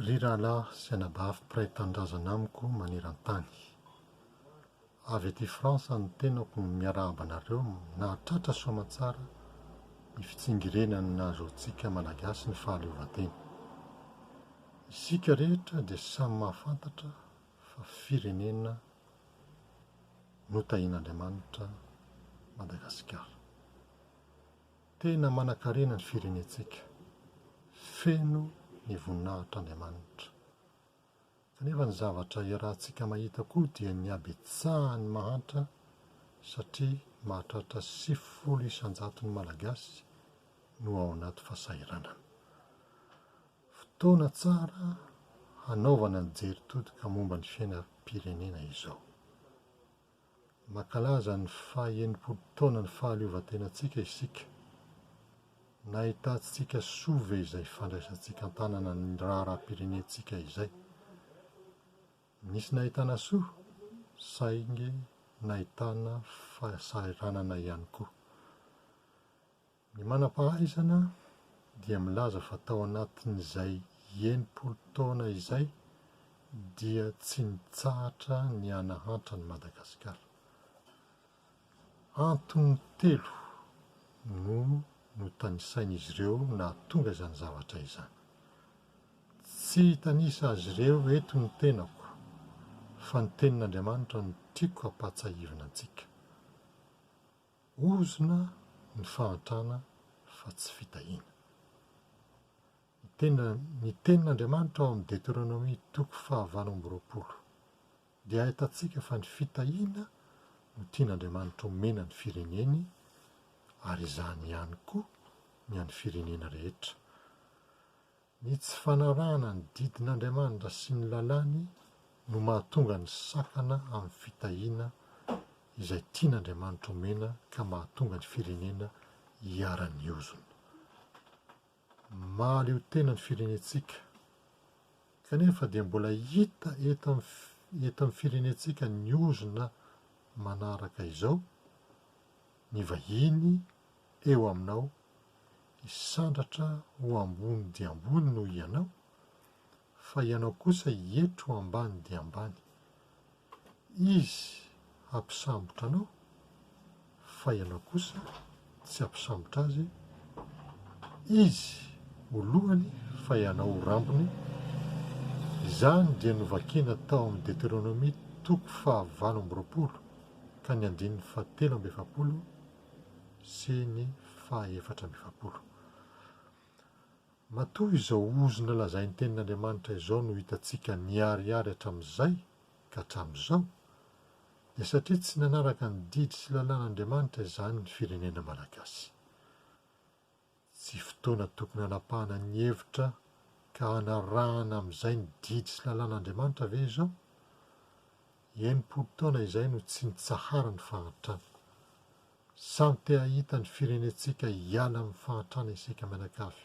Ry rahalahy sy anabavy mpiray tanindrazana amiko maneran-tany. Avy aty France no tenako no miarahaba anareo nahatratra soamatsara ny fitsingerenan'ny nahazoantsika Malagasy ny fahaleovantena. Isika rehetra dia samy mahafantatra fa firenena notahian'Andriamanitra Madagasikara. Tena manankarena ny firenentsika, feno ny voninahitr'Andriamanitra. Kanefa ny zavatra iarahantsika mahita koa dia ny habetsahan'ny mahantra satria mahatratra sivifolo isan-jaton'ny Malagasy no ao anaty fasahiranana. Fotoana tsara hanaovana ny jery todika momba ny fiainam-pirenena izao. Mankalaza ny faha enimpolo taonan'ny fahaleovantenantsika isika. Nahitantsika soa ve izay fandraisantsika an-tanana ny raharaham-pirenentsika izay? Nisy nahitana soa, saingy nahitana fahasahiranana ihany koa. Ny manam-pahaizana dia milaza fa tao anatin'izay enimpolo taona izay dia tsy nitsahatra ny hanahantra an'i Madagasikara. Antony telo no notanisain'izy ireo nahatonga izany zavatra izany. Tsy hitanisa azy ireo eto ny tenako fa ny tenin'Andriamanitra no tiako hampahatsiahivina antsika. Ozona ny fahantrana fa tsy fitahiana. Ny tena ny tenin' Andriamanitra ao amin'ny Deteronomia toko fahavalo amby roapolo dia ahitantsika fa ny fitahiana no tian' Andriamanitra omena ny fireneny ary izany ihany koa ny an'ny firenena rehetra. Ny tsy fanarahana ny didin'Andriamanitra sy ny lalàny no mahatonga ny sakana amin'ny fitahiana izay tian'Andriamanitra omena ka mahatonga ny firenena hiharan'ny ozona. Mahaleo tena ny firenentsika kanefa dia mbola hita eto amin'ny firenentsika ny ozona manaraka izao Ny vahiny eo aminao hisandratra ho ambony dia ambony noho ianao, fa ianao kosa hietry ho ambany dia ambany. Izy hampisambotra anao, fa ianao kosa tsy hampisambotra azy, izy ho lohany fa ianao ho rambony, izany dia novakina tao amin'ny Deteronomia toko fahavalo amby roapolo. ka ny andininy fahatelo amby efapolo sy ny fahaefatra amby efapolo. Matoa izao ozona lazain'ny Tenin'Andriamanitra izao no hitantsika niharihary hatramin'izay ka hatramin'izao, dia satria tsy nanaraka ny didy sy lalàn'Andriamanitra izany ny firenena malagasy. Tsy fotoana tokony hanapahana ny hevitra ka hanarahana amin'izay ny didy sy lalàn'Andriamanitra ve izao? Enimpolo taona izay no tsy nitsahara ny fahantrana. Samy te hahita ny firenentsika hiala amin'ny fahantrana isika mianakavy.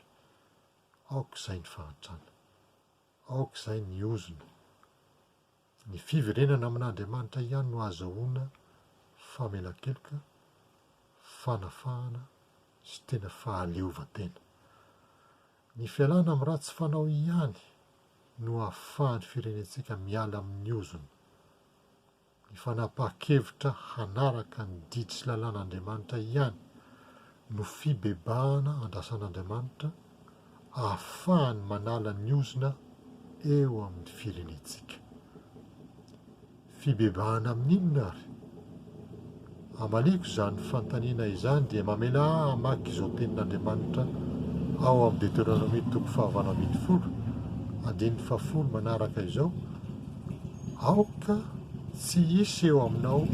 Aoka izay ny fahantrana. Aoka izay ny ozona. Ny fiverenana amin'Andriamanitra ihany no ahazahoana famelan-keloka, fanafahana sy tena fahaleovantena. Ny fialana amin'ny ratsy fanao ihany no ahafahan'ny firenentsika miala amin'ny ozona. Ny fanapahan-kevitra hanaraka ny didy sy lalàn'Andriamanitra ihany no fibebahana andrasan'Andriamanitra, ahafahany manala ny ozona eo amin'ny firenentsika. Fibebahana amin'inona ary? Amaliako izany fanontaniana izany dia mamelà ahy hamaky izao tenin'Andriamanitra ao amin'ny Deteronomia toko fahavalo ambin'ny folo, andininy fahafolo manaraka izao, Aoka tsy hisy eo aminao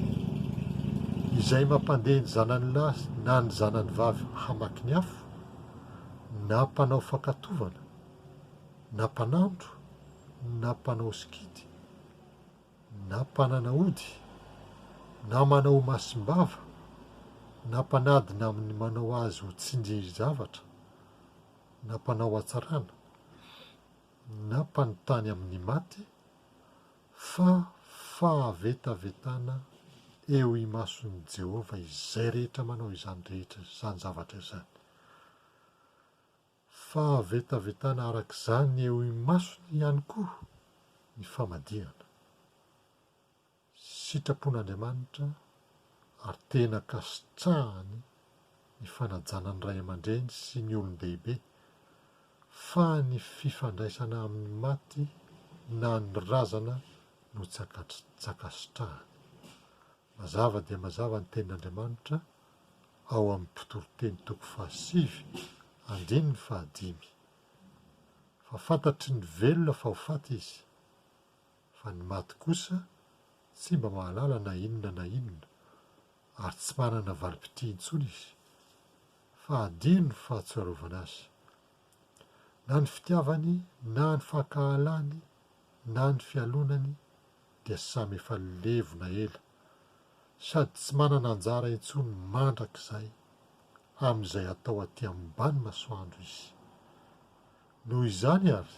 izay mampandeha ny zanany lahy na ny zanany vavy hamaky ny afo, na mpanao fankatovana, na mpanandro, na mpanao sikidy, na mpanana ody, na manao masim-bava, na mpanadina amin'ny manao azy ho tsindri-javatra, na mpanao hatsarana, na mpanontany amin'ny maty, fa fahavetavetana eo imason'i Jehovah izay rehetra manao izany rehetra, izany zavatra izany. Fahavetavetana araka izany eo imasony ihany koa ny famadihana. Sitrapon'Andriamanitra ary tena ankasitrahany ny fanajana ny ray aman-dreny sy ny olon-dehibe, fa ny fifandraisana amin'ny maty na ny razana no tsy ankasitrahany. Mazava dia mazava ny tenin'Andriamanitra ao amin'ny Mpitoroteny toko fahasivy andininy fahadimy, fa fantatry ny velona fa ho faty izy, fa ny maty kosa tsy mba mahalala na inona na inona, ary tsy manana valim-pitria intsony izy, fa adino ny fahatsoarovana azy, na ny fitiavany na ny fankahalany na ny fialonany dia samy efa levona ela sady tsy manana anjara intsony mandrakizay amin'izay atao aty ambany masoandro izy. Noho izany ary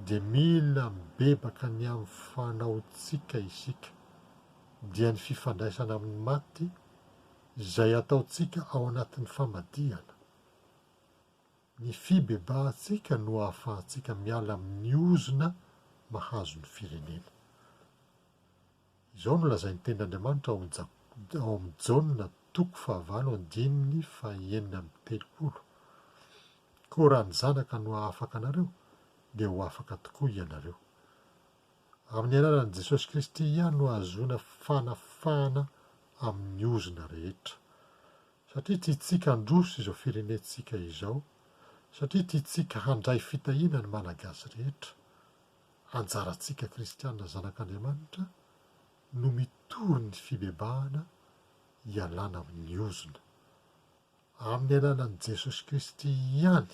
dia mila mibebaka ny amin'ny fanaontsika isika, dia ny fifandraisana amin'ny maty izay ataontsika ao anatin'ny famadihana. Ny fibebahantsika no ahafahantsika miala amin'ny ozona mahazo ny firenena. Izao no lazain'ny Tenin'Andriamanitra ao amin'ny Jaona toko fahavalo andininy fahenina amby telopolo, Koa raha ny Zanaka no hahafaka anareo, dia ho afaka tokoa ianareo. Amin'ny anaran'i Jesosy Kristy ihany no ahazoana fanafahana amin'ny ozona rehetra. Satria tiantsika handroso izao firenentsika izao, satria tiantsika handray fitahiana ny Malagasy rehetra, anjarantsika kristiana zanak'Andriamanitra no mitory ny fibebahana hialana amin'ny ozona. Amin'ny alalan'i Jesosy Kristy ihany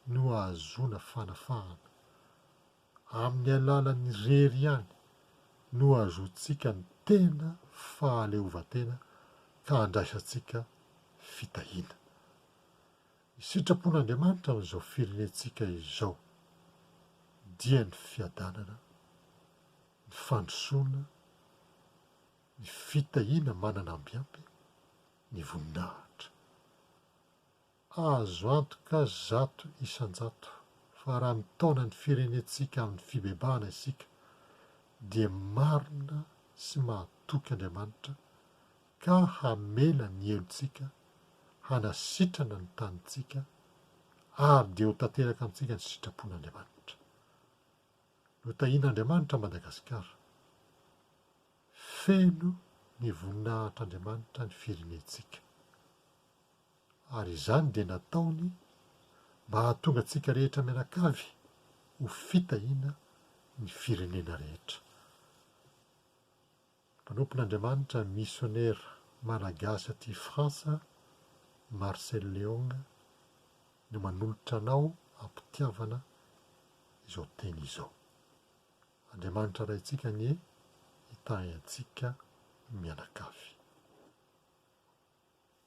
no ahazoana fanafahana. Amin'ny alalan'ny irery ihany no hahazoantsika ny tena fahaleovantena ka handraisantsika fitahiana. Ny sitrapon'Andriamanitra amin'izao firenentsika izao dia ny fiadanana, ny fandrosoana, ny fitahiana manana ambiampy, ny voninahitra. Azo antoka zato isan-jato fa raha mitaona ny firenentsika amin'ny fibebahana isika dia marina sy mahatoky Andriamanitra ka hamela ny helotsika hanasitrana ny tanintsika ary dia ho tanteraka amintsika ny sitrapon'Andriamanitra. Notahin'Andriamanitra Madagasikara. Feno ny voninahitr'Andriamanitra ny firenentsika. Ary izany dia nataony mba hahatonga antsika rehetra mianakavy ho fitahiana ny firenena rehetra. Mpanompon'Andriamanitra misionera malagasy aty Frantsa, Marcel Leong, no manolotra anao am-pitiavana izao teny izao. Andriamanitra Raintsika anie hitahy antsika mianakavy.